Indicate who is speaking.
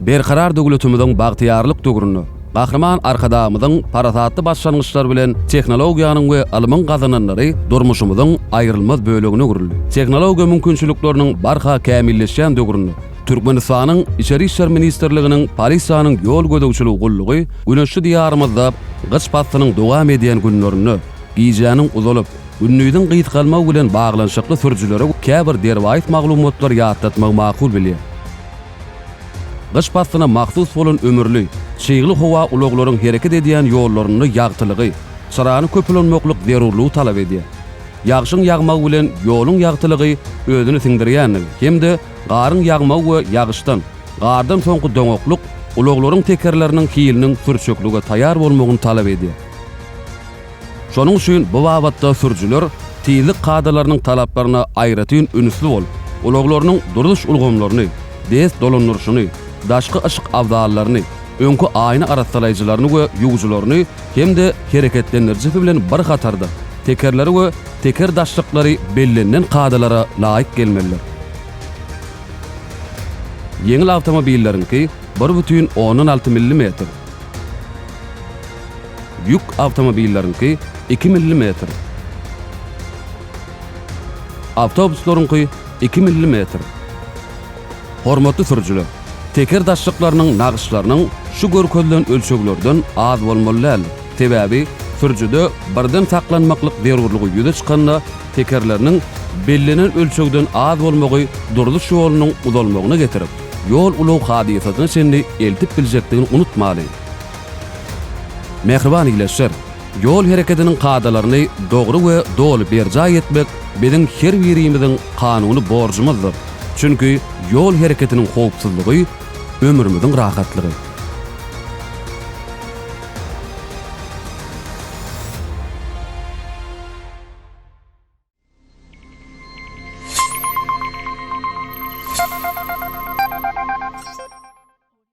Speaker 1: Berkarar döwletimiziň bagtyýarlyk döwründe Gahryman Arkadagymyzyň parasatly başlangyçlary bilen tehnologiýanyň we ylmyň gazananlary durmuşymyzyň aýrylmaz bölegine öwrüldi. Tehnologiýa mümkinçilikleriniň barha kämilleşýän döwründe Türkmenistanyň Içeri işler ministrliginiň Polisiýanyň ýol gözegçilik gullugy güneşli Diýarymyzda gyş paslynyň dowam edýän günlerinde gijäniň uzalyp, gündiziň gysgalmagy bilen baglanyşykly sürüjilere käbir derwaýys maglumatlary ýatlatmagy makul bilýär. Gyş paslyna mahsus bolan ömürli, çygly howa ulaglaryň hereket edýän ýollarynda ýagtylygy, çyrany köp ulanmaklyk zerurlygy talap edýär. Ýagşyň ýagmagy bilen ýoluň ýagtylygy özüni siňdirýändigi hem-de Garyň ýagmagy we ýagyşdan, gardan soňky doňaklyk ulaglaryň tekerleriniň hiliniň sürçeklige taýýar bolmagyny talap edýär. Şonuň üçin bu babatda sürüjiler tizlik kadalarynyň talaplaryna aýratyn ünsli bolup, ulaglarynyň durulyş ulgamlaryny, dest dolandyryşyny, daşky yşyk abzallaryny, öňki aýna arassalaýjylaryny we ýuwujylaryny hem-de hereketlendirijisi bilen bir hatarda, tekerleri we teker daşlyklary bellenilen kadalara laýyk gelmelidir. Ýeňil awtomobilleriňki bir bütin ondan alty millimetr, ýük awtomobilleriňki iki millimetr, awtobuslaryňky iki millimetr, Hormatly sürüjiler! Teker daşlyklarynyň nagyşlarynyň şu görkezilen ölçeglerden az bolmaly däl, sebäbi sürüjide birden saklanmaklyk zerurlygy ýüze çykanda tekerleriniň bellenen ölçegden az bolmagy durluş ýolunyň uzalmagyna getirip, ýol-ulag hadysasyna çenli eltip biljekdigini unutmalyň. Mähriban ileşer! Ýol hereketiniň kadalaryny dogry we doly berjaý etmek biziň her birimiziň kanuny borjumyzdyr, çünki ýol hereketiniň howpsuzlygy, ömrümiziň rahatlygy.